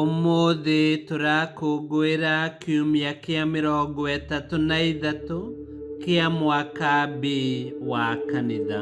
Ũmũthĩ tũrakũngũĩra kiumia kĩa mĩrongo ĩtatũ na ithatũ kĩa mwaka B wa kanitha.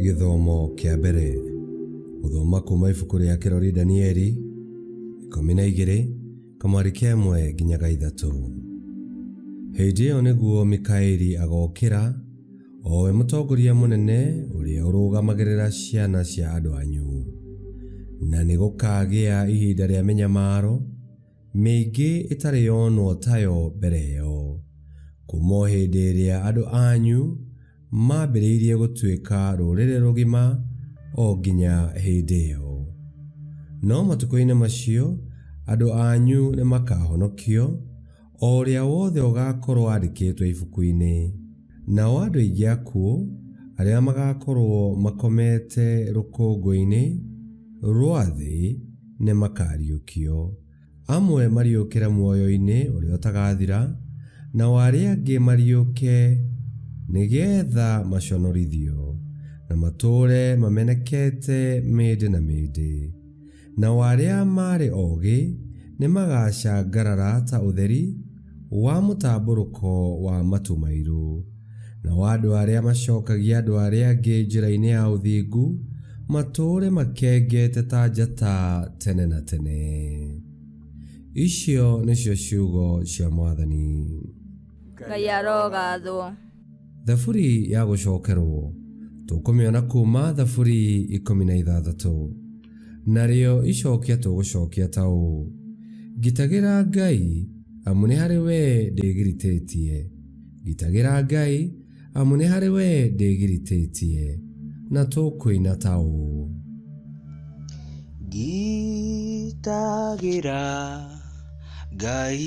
Gĩthomo kĩa mbere gũthoma kuuma ibuku rĩa kĩrori Danieli ikũmi na igĩrĩ Kamwarĩ kĩa ĩmwe nginyaga ithatũ. Hĩndĩ ĩyo nĩguo Mikaeli agokĩra, o we mũtongoria mũnene ũrĩa ũrũgamagĩrĩra ciana cia andũ anyu. Na nĩ gũkagĩa ihinda rĩa mĩnyamaro mĩingĩ ĩtarĩ yonwo tayo mbere ĩyo, kuuma o hĩndĩ ĩrĩa andũ anyu maambĩrĩirie gũtuĩka rũrĩrĩ rũgima o nginya hĩndĩ ĩyo. No matukũ-inĩ macio andũ anyu nĩ makahonokio, o ũrĩa wothe ũgaakorwo aandĩkĩtwo ibuku-inĩ. Nao andũ aingĩ akuũ arĩa magaakorwo makomete rũkũngũ-inĩ rwa thĩ nĩ makaariũkio. Amwe mariũkĩre muoyo-inĩ ũrĩa ũtagathira, nao arĩa angĩ mariũke nĩgetha maconorithio, na matũũre mamenekete mĩndĩ na mĩndĩ. Nao arĩa maarĩ oogĩ nĩmagacangarara ta ũtheri, wa mũtambũrũko wa matũ mairũ, na wa andũ arĩa macokagia andũ arĩa angĩ njĩra-inĩ ya ũthingu, matũũre makengete ta njata tene na tene. Icio nĩcio ciugo cia Mwathani. ngai arogathwo thaburi ya gũcokerwo tũkũmĩona kuma thaburi ikũmi na ithathatũ narĩo icokia tũgũcokia ta ũũ ngitagĩra ngai amu nĩ harĩ wee ndĩgiritĩtie ngitagĩra ngai amu nĩ harĩ wee ndĩgiritĩtie na tũkũina ta ũũ ngitagĩra ngai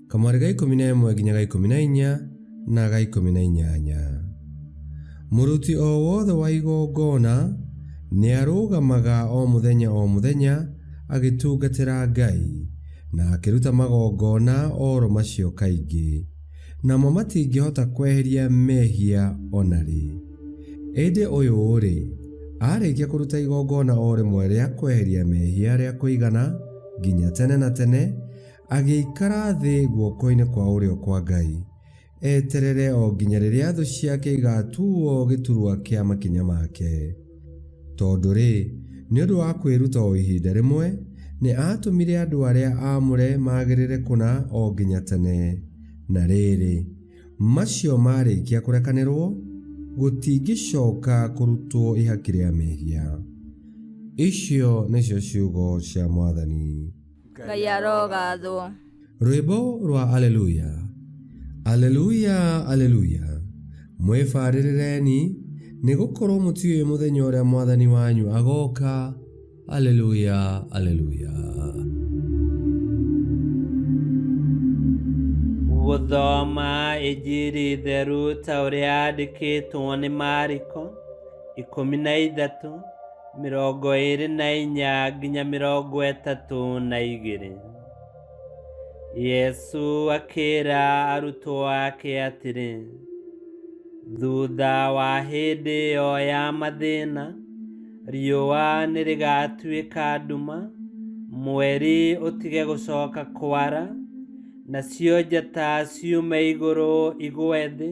kamwarĩ ga ikũmi na ĩmwe nginya ga ikũmi na inya na ga ikũmi na inyanya. Mũruti o wothe wa igongona nĩarũgamaga o mũthenya o mũthenya agĩtungatĩra Ngai, na akĩruta magongona oro macio kaingĩ, namo matingĩhota kweheria mehia o na rĩ. Ĩndĩ ũyũ-rĩ, aarĩkia kũruta igongona o rĩmwe rĩa kweheria mehia rĩa kũigana nginya tene na tene, Agĩikara thĩ guoko-inĩ kwa ũrĩo kwa Ngai, eterere o nginya rĩrĩa thũ ciake igaatuuo gĩturwa kĩa makinya make. Tondũ-rĩ, nĩ ũndũ wa kwĩruta o ihinda rĩmwe, nĩ aatũmire andũ arĩa aamũre magĩrĩre kũna o nginya tene. Na rĩrĩ, macio maarĩkia kũrekanĩrũo, gũtingĩcoka kũrutwo ihaki rĩa mehia. Icio nĩcio ciugo cia Mwathani. ngai arogathwo rwĩmbo rwa aleluya aleluya aleluya mwĩbarĩrĩreni nĩ gũkorwo mũtiũĩ mũthenya ũrĩa mwathani wanyu agoka aleluya aleluya gũthoma injiri theru ta ũrĩa yandĩkĩtwo nĩ mariko ikũmi na ithatũ mĩrongo ĩĩrĩ na inya nginya mĩrongo ĩtatũ na igĩrĩ yesu akĩĩra arutwo ake atĩrĩ thutha wa hĩndĩ ĩyo ya mathĩna riũa nĩ rĩgatuĩka nduma mweri ũtige gũcoka kwara nacio njata ciume igũrũ igwe thĩ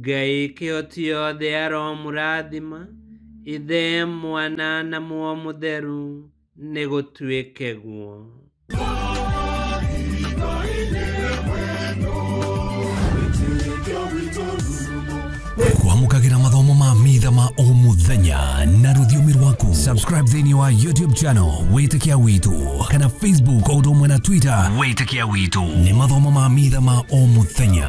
Ngai kĩo ciothe aromũrathima, Ithe, Mwana na Muo Mũtheru, nĩ gũtuĩke guo. kwamũkagĩra mathomo ma mitha ma o mũthenya na rũthiomi rwaku subscribe thĩinĩ wa youtube channel wĩtĩkia witũ kana facebook o ũndũ ũmwe na twitter wĩtĩkia witũ nĩ mathomo ma mitha ma o mũthenya